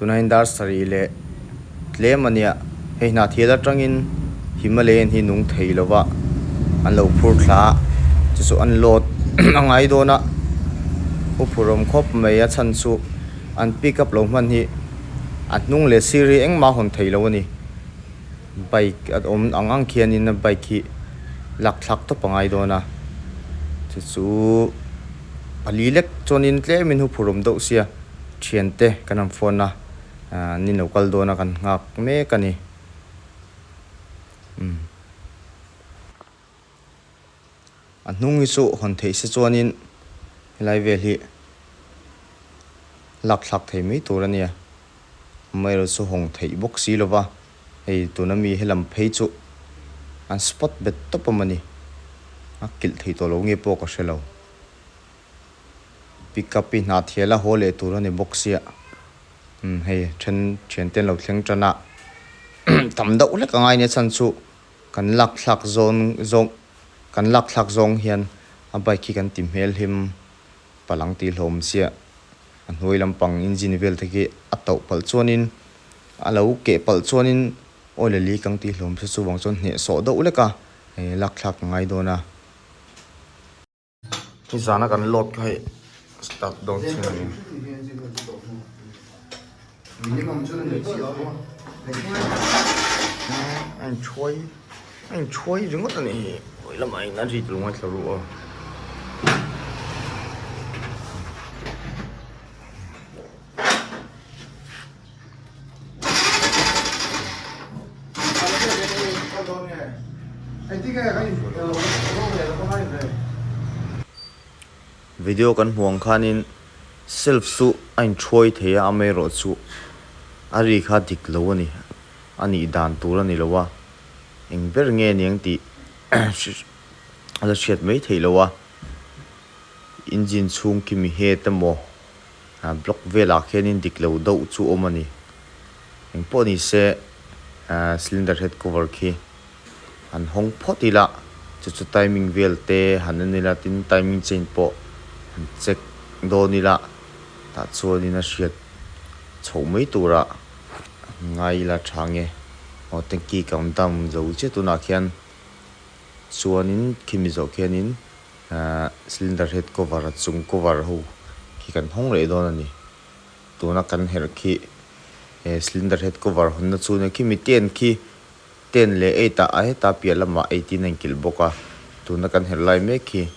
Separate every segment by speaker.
Speaker 1: Tuna in dar sarih leh tlem a nia. Hei hnahthil atangin Himalayan hi nung thei lova an lo phur thla a, chu chu an load a ngai dawn a. Uphurawm khawp mai a chhan chu an pick up lo hman hi a hnung leh sir hi engmah a hawn thei lo a ni. Bike a awm ang ang khianin a bike hi lak thlak tawp a ngai dawn a, chu chu pali lek chuanin tlemin hu phurum deuh sia thiante kan rawn phone a ahh an inlo kal dawn a kan nghak mek a ni umm. A hnung hi chu hawn theih se chuanin helai vel hi lak thlak thei mai tur a nia. Amaherawhchu chu hawng theih bawk si lova, hei tun ami he lam phei chu an spot bet tawp a mawni. A kilh thei tawh lo nge pawh ka hre lo. Pick up i hna thial a haw leh tur a ni bawk sia. Hei then thiante an lo thleng tan a tam deuh hlek a ngai ania chhan chu. Kan lak thlak zawn zawng kan lak thlak zawng hian a bike hi kan ti hmel him palang tih hlawm chiah a hnuai lampang engine vel thek hi a tauh palh chuanin a lo keh palh chuanin oil a leak ang tih hlawm se chuvang chuan hnehsawh deuh leka lak thlak ka ngai dawn a. Hi zana kan load kha hi start dawn thin a ni. A inthuai a inthuai ringawt a nih hi vawi lamah in a rit lungai thla ruh a. Video kan hmuh ang khanin self chu a inthuai thei a amaerawh chu a ri kha dik lo a ni a nih dan tur a ni lo a eng ber nge niang tih la hriat mai theih lo a engine chhung khi mi het emaw. ah block velah khianin dik lo deuh chu awm a ni. Eng pawh ni se ah cylinder head cover khi han hawng phawt ila, chu chu timing velte han en ila tin timing chain pawh han check dawn ila tah chuanin a hriat chhoh mai turah han ngai ila tha nge. Aw tanky kang dam zo che tunah khian chuanin khi mi zawh khianin. Cylinder head cover a chung cover ho khi kan hawng reh dawn a ni. Tuna kan herh khi he cylinder head cover hawn na chu nia khi mi ten khi ten leh eight ah heta piah lamah eight in a inkilh bawk a. Tuna kan herh lai mek khi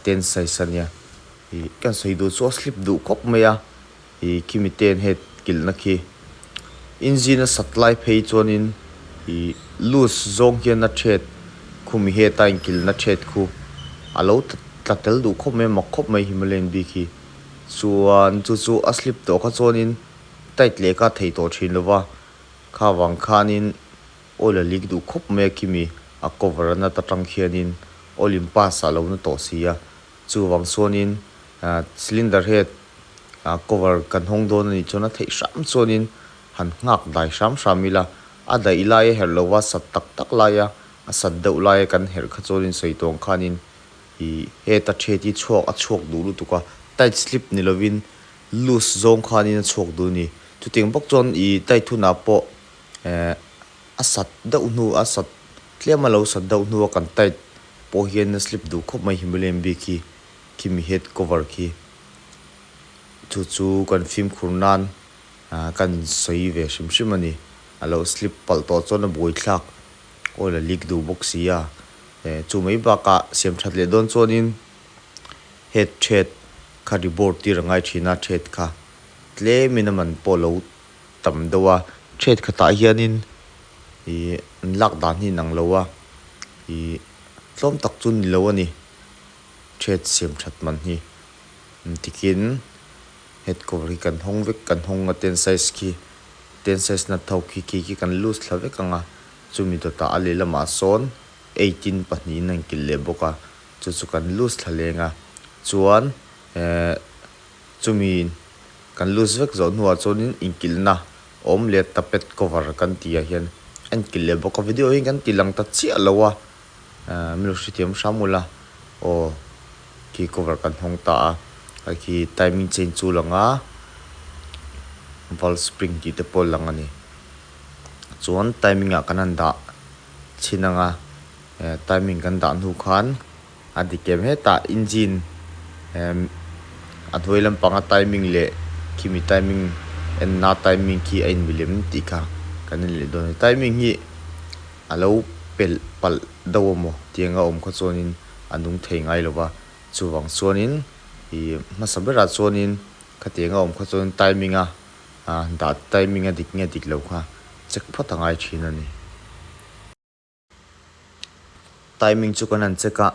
Speaker 1: ten size a nia. Kan sawi duh chu a slip duh khawp mai a. I Kimi ten het kilhna khi inzin a sat lai phei chuanin I Luz zawng hian na chet khu mi heta in kilhna chet khu a lo tla tel duh khawp mai mak khawp mai Himalayan bik hi chuan chu chu a slip tawh kha chuanin tight leh ka thei tawh thin lo va kha vang khanin oil a leak duh khawp mai a Kimi a cover a nat atang khianin oil in pass a lo na tawh si a. Chuvang chuanin cylinder het cover kan hawng dawn a nih chuan a theih hram chuanin han nghak dai hram hram ila, a daih lai a herh lova sat tak tak laia a sat deuh laia kan herh kha chuanin sawitlawng khanin ih heta ṭhet hi chhuak a chhuak duh lutuk a, tight slip ni lovin loose zawng khanin a chhuak duh a ni. Chutiang bawk chuan ih tight hunah pawh eh a sat deuh hnu a sat. Tlem a lo sat deuh hnu a kan tight pawh hian a slip duh khawp mai Himalayan bik hi khi mi head cover khi thu chu kan fimkhur nan ah kan insawi ve hrim hrim a ni a lo slip palh tawh chuan a buai thlak awl a leak duh bawk si a eh chu mai bakah siam that leh dawn chuan in head thread kha rebord tir a ngai thin a thread kha tlem in a man pawh a lo tam deuh a chhiat khatah hianin ihh an lak dan hi inang lo a ihh tlawm tak chu ni lo a ni chhiat siam that man hi tikin head cover hi kan hawng vek kan hawng a ten size khi ten size nat ho khi khi khi kan loose thla vek ang a chumi dawtah a lehlamah sawn eighteen pahnih in a inkilh leh bawk a chu chu kan loose thla leng a chuan ehh. Chumi kan lose vek zawh hnuah chuanin inkilhna awm leh ta pet cover kan tihah hian a inkilh leh bawk a, video hi kan tih lang ta chiah lo a, milo hrethiam hram ula aw khi cover kan hawng ta a, a khi timing change chu a lang a, valve spring tih te pawh a lang a ni. Chuan timing ah kan han dah chhin ang a, timing kan dah hnu khan. A dikem hetah engine emm a hnuai lam panga timing leh khimi timing enna timing khi a inmilem tih kha kan inleh dawn a ni. Timing hi a lo pelh palh deuh a maw tianga awm kha chuanin a nung thei ngai lo va, chuvang chuanin ih hmasa berah chuanin khati anga awm kha chuan timing a dah timing a dik nge dik lo kha check phawt a ngai thin a ni. Timing chu kan han check a,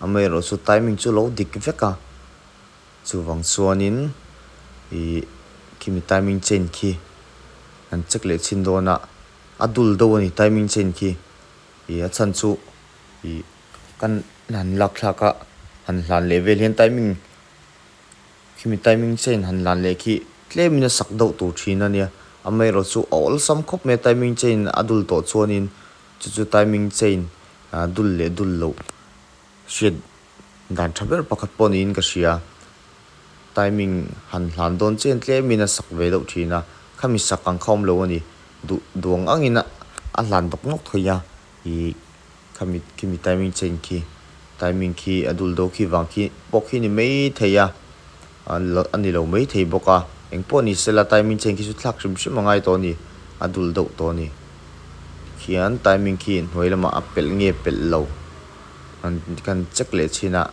Speaker 1: amaherawh chu timing chu lo dik vek a, chuvang chuanin ih khimi timing chain khi han check leh chhin dawn a, a dul deuh a ni timing chain khi, ih a chhan chu ih kan han lakthlak a, han hlan leh vel hian timing. Khimi timing chain han lan leh khi tlemin a sak deuh tur thin a nia. Amaherawh chu a awlsam khawp mai a timing chain a dul tawh chuanin chu chu timing chain dul leh dul loh hriat dan tha ber pakhat pawh niin ka hria. Timing han hlan dawn chen tlemin a sak ve deuh thin a. Khami sak ang kha awm lo a ni. Duh duang angin a hlan dawk nawk thawih a. Hi kha mi khi mi timing chen khi timing khi a dul do khi vang khi pawh khi ni mai thei a a ni lo mai thei bawk a eng pawh ni sela timing chen khi chu thlak hrim hrim a ngai tawh a ni a dul deuh tawh a ni khian timing khi hnuai lamah a pelh nge pelh lo an kan check leh chhin a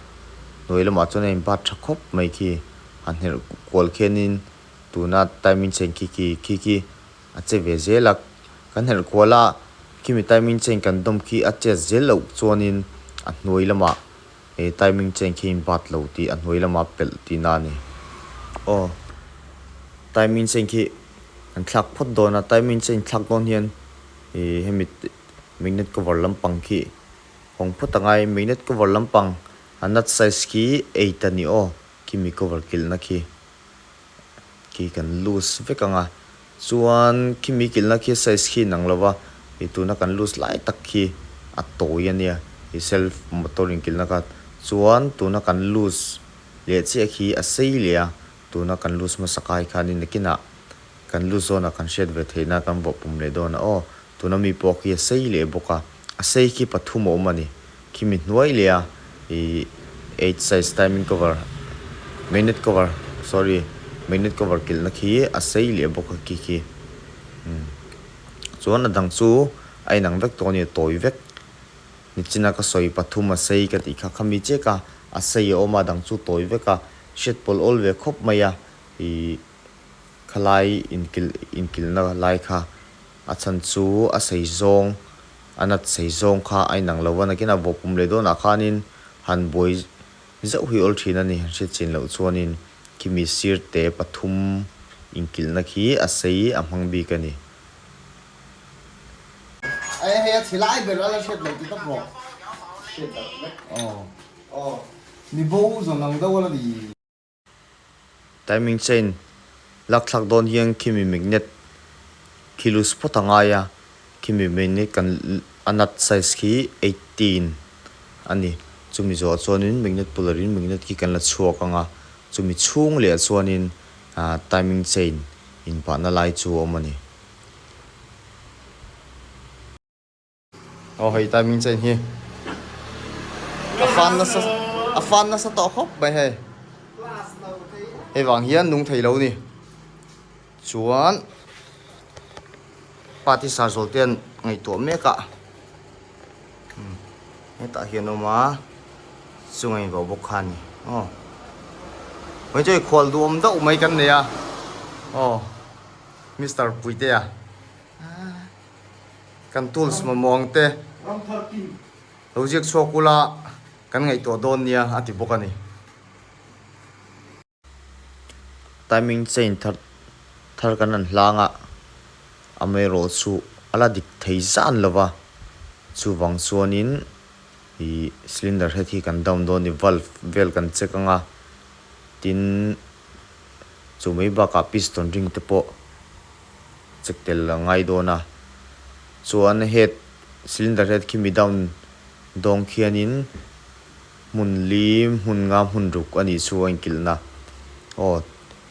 Speaker 1: hnuai lamah chuan a in bat tha khawp mai khi a hnerh kual khian in tuna timing chen khi khi khi khi. A che ve zel a, kan herh kual a, Kimi timing chain kan dawm khi a chet zel loh chuanin a hnuai lamah he timing chain khi in bat lo tih a hnuai lamah a pelh tih na a ni. Aw, timing chain khi kan thlak phawt dawn a, timing chain thlak dawn hian ih hemi magnet cover lampang khi hawng phawt a ngai, magnet cover lampang a nut size khi eight a ni aw, Kimi cover kilhna khi. khi kan loose vek anga chuan khi mi kilna khi size khi inang lova ih tuna kan loose lai tak khi a tawi ania ih self motor inkilhna khan chuan tuna kan loose leh chiah khi a sei leh a tuna kan loose hmasa kai khan in nakinah kan loose zawnah kan hriat ve theihna kan vawh pawm leh dawn a aw tuna mi pawh khi a sei leh bawk a. A sei khi pathum a awm a ni. Khi mi hnuai leh a ih eight size timing cover magnet cover sorry magnet cover kilhna khi a sei leh bawk a khi khi umm chuan a dang chu a inang vek tawh a ni a tawi vek ni chin a ka sawi pathum a sei ka tih kha kha mi chek a a sei a awm a a dang chu tawi vek a hriat pawlh awl ve khawp mai a ih khalai inkilh inkilhna lai kha A chhan chu a seizawng, a nat seizawng kha a inang lo a, nakin a vawp pum leh dawnah khanin han buai zeuh hi awl thin a ni. Han hriat chin loh chuanin Kimi sirte pathum inkilhna khi a sei a hmang bik a ni. Heia thilai ber a la hriat lo ti tak rawh. Hriat darh vek. Aw. Aw. Ni bo zawng ang deuh a la ni. Timing chain lak thlak dawn hian khimi magnet khi loose phawt a ngai a, khimi magnet kan a nut size khi eighteen a ni, chumi zawhah chuanin magnet pull lohin magnet khi kan la chhuak ang a, chumi chhung leh ah chuanin ah timing chain inpahna lai chu a awm a ni. Aw hei timing chen hi a fan nasa a fan nasa tawh khawp mai hei hei vang hian nung thei lo ni chuan party sar zawlh ten ngaihtuah mek a hmm, hetah hian awm a chu ngaih vau bawk kha ni aw hoi chei khual duam deuh mai kan nei a aw Mr. Puiteya Kan tools mamawh ang te lo ziak chhuak ula kan ngaihtuah dawn nia a ti bawk a ni. Timing chain thar thar kan rawn hlang a, amaerawh chu a la dik thei zan lo va, chuvang chuanin ih cylinder head hi kan down dawn a ni, valve vel kan check ang a, tin Chu mai bakah piston ring te pawh check tel a ngai dawn a. Chuan head cylinder head khi mi down dawng khianin hmun li hmun nga hmun ruk a nih chu a inkilh na. Aw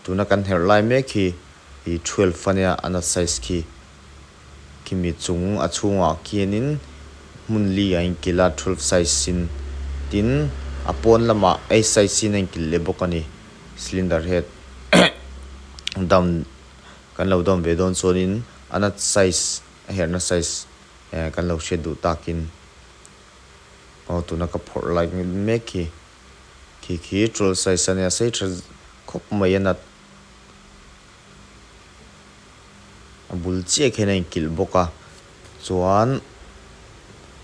Speaker 1: tuna kan herh lai mek hi i twelve a nia ana size khi. Kimi chung a chhungah khianin hmun li a inkilh a, twelve size sin. Tin, a pawn lamah eight size sin a inkilh leh bawk a ni. Cylinder head down kan lo down ve dawn chuanin a nut size, a herhna size eh kan lo hriat duh takin aw tuna ka phawrh lai ngil mek hi. Khi khi twelve size a nia, sei tha khawp mai a nut. A bul chiah khian a inkilh bawk a, chuan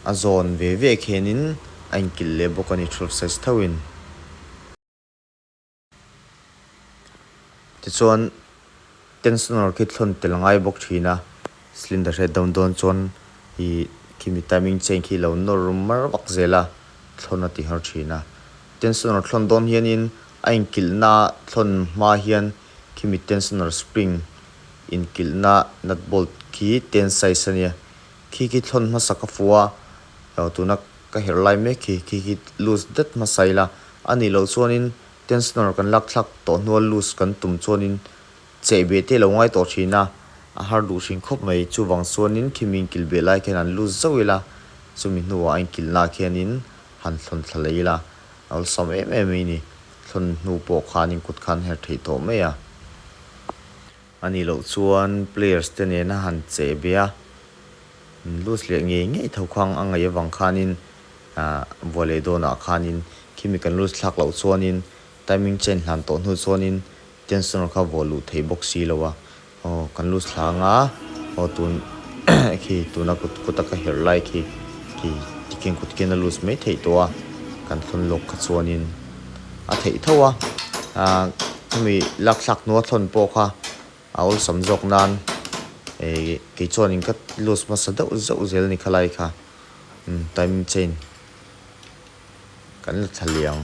Speaker 1: a zawn ve ve khianin a inkilh leh bawk a ni ṭhut ses thauhin. Tichuan tension erawh khi thlawn tel ngai bawk ṭhin a, cylinder he dam dawn chuan ih khimi timing chain khi lo nawr rum mar vak zel a, thlawn a ti harh ṭhin a. Tension erawh thlawn dawn hianin a inkilhna thlawn hma hian. Khimi tensioner spring inkilhna nut bolt khi ten size a nia. Khi khi thlawn hmasa ka fu a, lo tuna ka herh lai mek hi khi khi loose det hmasa ila. A nih loh chuanin tensioner kan lak thlak tawh hnual loose kan tum chuanin cheh beh te lo ngai tawh thin a, a har duh thin khawp mai. Chuvang chuanin khimi inkilh beh lai khian han loose zauh ila, chumi hnuah a inkilhnaah khianin han thlawn thla leh ila, awlsam em em mai a ni. Thlun hnu pawh khan in kut khan her theih tawh mai a, a nih loh chuan players te nena han che be a, an lose leh ngei ngei tho khang a ngaih avang khan in vua leh dawnah khan in khimi kan lose thlak loh chuan in timing change hlan tawh hnu chuan in Tension kha vawh luh thei bawk si lo a, aw kan loose thla anga aw tun khi tuna kut kuta ka herh lai khi khi tikin kutkin a loose mai theih tawh a, kan thlawn lawk kha chuanin a theih tho a, aah hemi lakthlak hnua thlawn pawh kha a awlsam zawk nan eeh kei chuanin ka loose hmasa deuh zeuh zel ni kha lai kha, umm timing chain. kan la thlaliang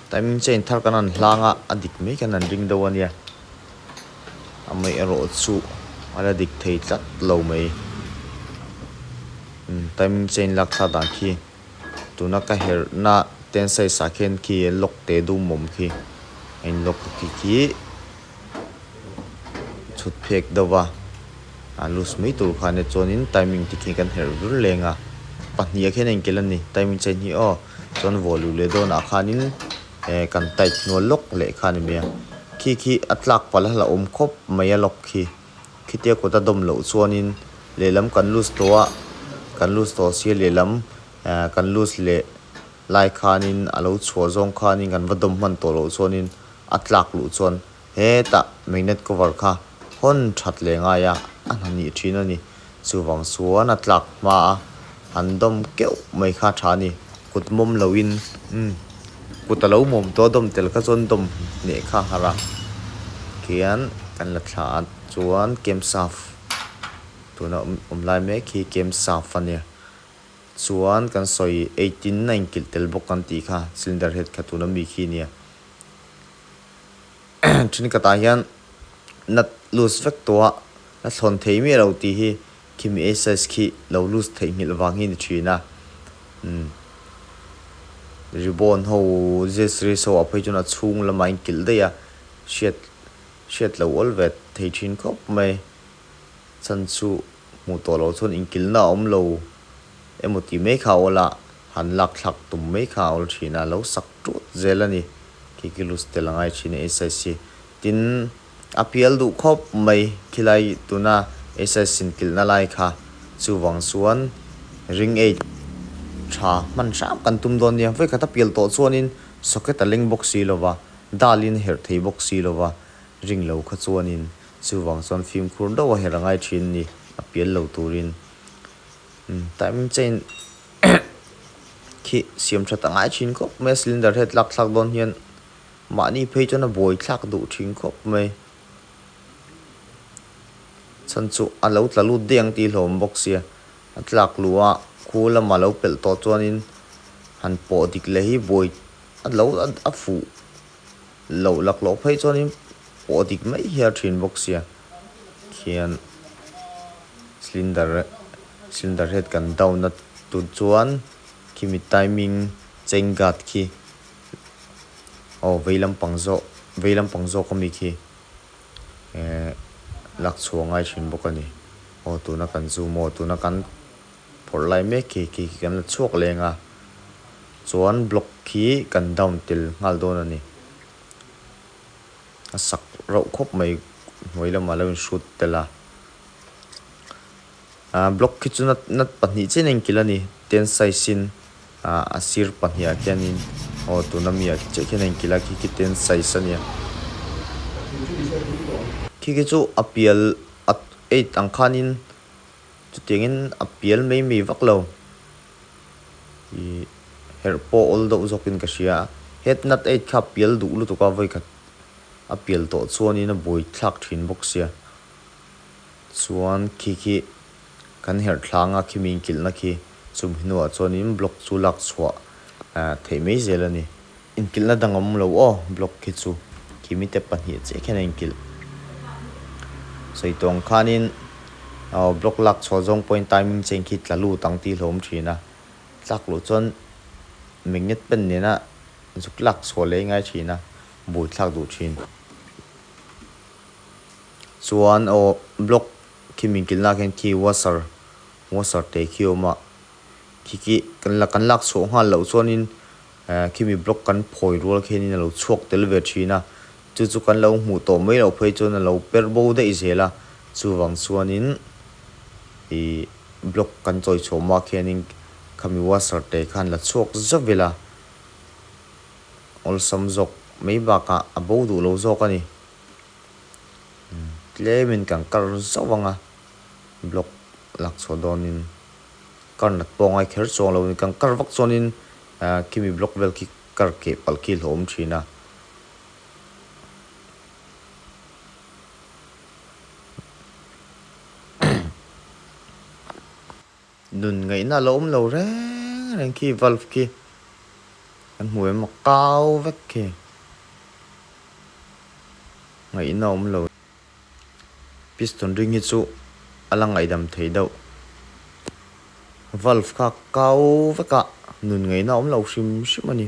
Speaker 1: timing chain thar kan rawn hlang a a dik mai khan an ring deuh a nia amawih erawh chu a la dik thei tlat lo mai imm timing chain lak thla dan khi tuna ka herh na ten size ah khian khi lock teh dum awm khi a in lock khi khi-- chhut phek deuh a, a loose mai tur khan e chuanin timing tikhin kan herh vur leng a, pahnih ah khian a inkel a ni, timing che ni aw chuan vawh luh leh dawnah khanin ehh kan tight hnual lawk leh kha a ni mai a, khi khi a tlak pal a la awm khawp mai a lock khi, khitia kut a dawm loh chuanin lehlam kan loose tawh a, kan loose tawh sir lehlam ehh kan loose leh Lai khanin a lo chhuah zawng khanin kan va dawm hman tawh loh chuanin a tlak luh chuan hetah magnet cover kha hawn that leh ngaia a hnanih thin a ni. Chuvang chuan a tlak hma a, han dawm keuh mai kha a tha a ni. Kut mawm loin umm kut a lo mawm tawh a dawm tel kha chuan dawm hneh kha a har a. Khian kan la thlah ah chuan Kemsaf tuna awm lai mek hi Kemsaf a ni. Chuan kan sawi eighteen a inkilh tel bawk kan tih kha cylinder head khat tuna mi khi nia then kata hian nut loose vek tawh a la thlawn thei miah lo tih hi khimi ei size khi lo loose theih nghilh vang hi ni thin a umm ribbon ho zero series ho a phei chuan a chhung lamah a inkilh daih a hriat hriat loh awlvet thei thin khawp mai. Chan chu hmuh tawh lo chuan inkilna a awm lo emaw tih mai kha a awl a, han lakthlak tum mai kha a awl thin a, lo sak ṭut zel a ni. Kikilus tel a ngai thin a SIC. Tin, a pial duh khawp mai khilai tuna SIC inkilhna lai kha. Chuvang chuan ring eight ṭha hman hrang kan tum dawn nia, vawi khat a pial tawh chuanin socket a leng bawk si lova, dal in a herh thei bawk si lova ring lo kha chuanin Chuvang chuan fimkhur dauh a herh a ngai thin ni, a pial lo turin. Umm, time chain khi siam that a ngai thin khawp mai a, cylinder he tlak thlak dawn hian mahni phei chuan a bawi thlak duh thin khawp mai. Chhan chu a lo tla lut daih ang tih hlawm bawk sia, a tlak luh a, khu lama lo pelh tawh chuanin han pawh dik leh hi bawi a lo a fuh. Lo lak loh phei chuan in pawh dik mai hial thin bawk sia khian cylinder cylinder head kan down a tun chuan khimi timing chain guard khi aw vei lampang zawk vei lampang zawk ami khi ehh lak chhuah ngai thin bawk a ni aw tuna kan zoom aw tuna kan-- phawrh lai mek khi khi khi kan la chhuak leng a, chuan block khi kan down tel nghal dawn a ni. A sak reuh khawp mai hnuai lamah lo in shoot tel a. Ahh block khi chu nat nat pahnih chian a inkilh a ni, ten size in ahh a sir pahnih ah khianin aw tuna mi ah chiah khian a inkilh a, khi khi ten size a ni a. Khi khi chu a pial at eight ang khanin. Chutiangin a pial mai mai vak lo. I herh pawh awl deuh zawkin ka hria a. Head nut eight kha a pial duh lutuk a vawikhat a pial tawh chuanin a buai thlak thin bawk sia. Chuan khi khi kan herhtlanga khi min kilhna khi Chum hi nuah chuan in block chu lak chhuah theih mai zel a ni. Inkilhna dang awm lo aw, block hi chu kimitep pahnih chiah khian a inkilh. Sawihtawng khanin aw block lak chhuah zawng pawhin timing che khi tla lut ang ti hlawm thin a. Tlak loh chuan magnet pen nena zuk lak chhuah leh ngai thin a, bul thlak duh thin. Chuan aw block khi min kilhnaah khian khi washer. Mozart te khi awm a, khi khi kan la kan lak chhuah nghal loh chuanin eh khi mi block kan phawi rual khianin a lo chhuak tel ve thin a, chu chu kan lo hmuh tawh mai loh phei chuan a lo per bo daih zel a, chuvang chuanin ih block kan chawi chhuah mah khianin kha mi Mozart te khan la chhuak zah vilh a, awlsam zawk mai bakah a bo duh lo zawk a ni, tlem in kan kar zauh ang a, block lak chhuah dawnin kar nat pawh a ngai kher chuang lo, kan kar vak chuanin Kimi block vel khi kar keh palh khi a hlawm thin a. Nun ngaihna a lo awm lo reng reng khi valve khi kan hmu em a kau vek khi ngaihna a awm lo. Piston ring hi chu a la ngaihdam thei deuh. Valve kha kau veka nun ngaihna a awm lo hrim hrim a ni.